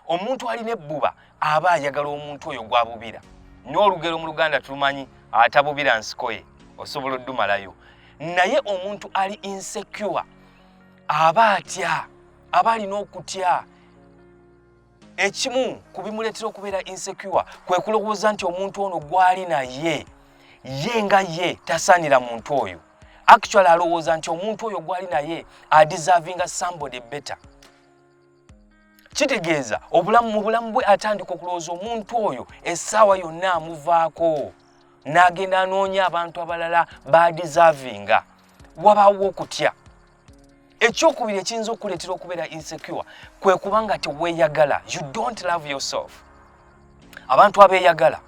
omuntu alina ebbuba aba ayagala omuntu oyo gwabubira n'olugero mu luganda tulumanyi atabubira nsikoye osobola oddumalayo naye omuntu ali insecure aba atya aba alina okutya ekimu ku bimuleetera okubeera insecure kwe kulowooza nti omuntu ono gwali naye ye nga ye tasaanira muntu oyo actually alowooza nti omuntu oyo gwali naye adizavinga somebody better kitegeeza obulamu mu bulamu bwe atandika okulowooza omuntu oyo essaawa yonna amuvaako n'agenda anoonya abantu abalala badisavinga wabaawo okutya ekyokubiri ekiyinza okukuleetera okubeera insecure kwe kuba nga teweeyagala you don't love yourself abantu abeeyagala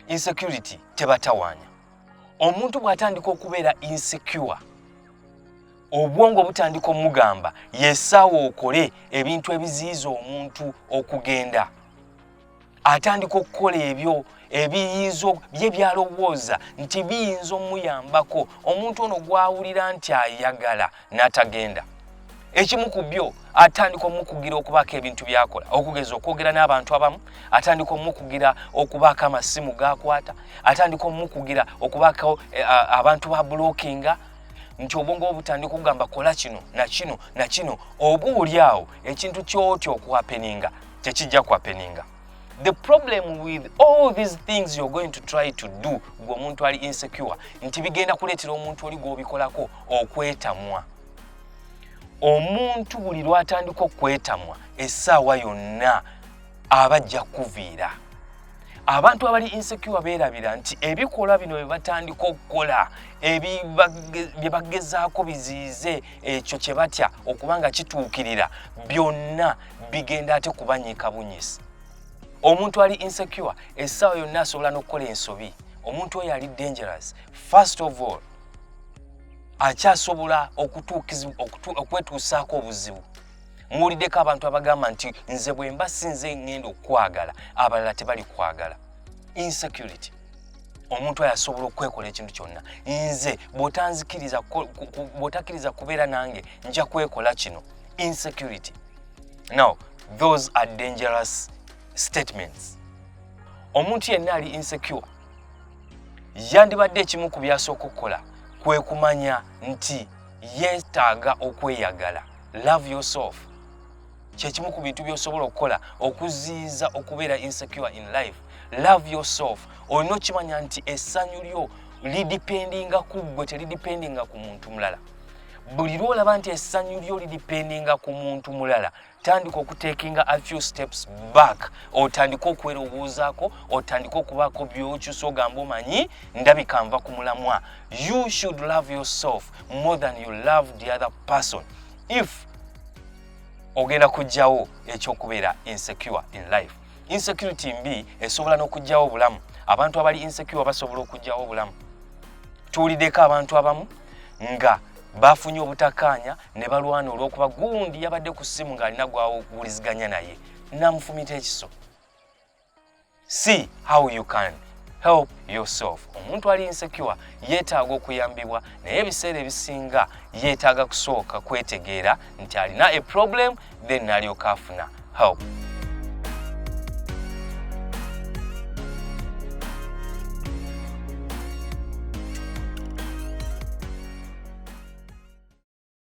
insecurity tebatawaanya omuntu bw'atandika okubeera insecure obwongo butandika omugamba yesaawo okole ebintu ebiziyiza omuntu okugenda atandika okukola ebyo ebiyinza bye byalowooza nti biyinza omuyambako omuntu ono gwawulira nti ayagala n'atagenda ekimu ku byo atandika omukugira okubaako ebintu byakola okugeza okwogera n'abantu abamu atandika omukugira okubaako amasimu gakwata atandika omukugira okubaako eh, abantu ba bulokinga nti obwongo bwo butandika okugamba kola kino na kino na kino oba olyawo ekintu kyotya okuhapeninga tekijja kuhapeninga the problem with all these things you're going to try to do gwe omuntu ali insecure nti bigenda kuleetera omuntu oli gwobikolako okwetamwa omuntu buli lwatandika okwetamwa essaawa yonna aba ajja kukuviira abantu abali insecure beerabira nti ebikolwa bino bye batandika okukola bye bagezaako biziyize ekyo kye batya okuba nga kituukirira byonna bigenda ate kubanyiika bunyisi omuntu ali insecure essaawa yonna asobola n'okukola ensobi omuntu oyo ali dangerous first of all akyasobola okwetuusaako obuzibu muwuliddeko abantu abagamba nti nze bwemba si nze ngenda okukwagala abalala tebali kwagala insecurity omuntu oyo asobola okwekola ekintu kyonna nze bwotakkiriza kubeera nange nja kwekola kino insecurity now those are dangerous statements omuntu yenna ali insecure yandibadde ekimu ku byasooka okukola kwe kumanya nti yeetaaga okweyagala love yourself kyekimu ku bintu byosobola okukola okuziyiza okubeera insecure in life love yourself olina okimanya nti essanyu lyo lidipendinga ku ggwe telidipendinga ku muntu mulala buli lwolaba nti essanyu lyo lidipendinga ku muntu mulala tandika okutekinga a few steps back otandike okwerowoozaako otandike okubaako byokyusa ogamba omanyi ndabika nva ku mulamwa You should love yourself more than you love the other person. If ogenda kujjawo ekyokubeera insecure in life. Insecurity mbi esobola n'okujjawo obulamu. Abantu abali insecure basobola okujjawo obulamu. Tuwuliddeko abantu abamu nga bafunye obutakaanya ne balwana olw'okuba gundi yabadde ku ssimu ng'alina gwawuliziganya naye namufumita ekiso. See how you can help yourself. Omuntu ali insecure yeetaaga okuyambibwa naye ebiseera ebisinga yeetaaga kusooka kwetegeera nti alina a problem then nalyoka afuna help.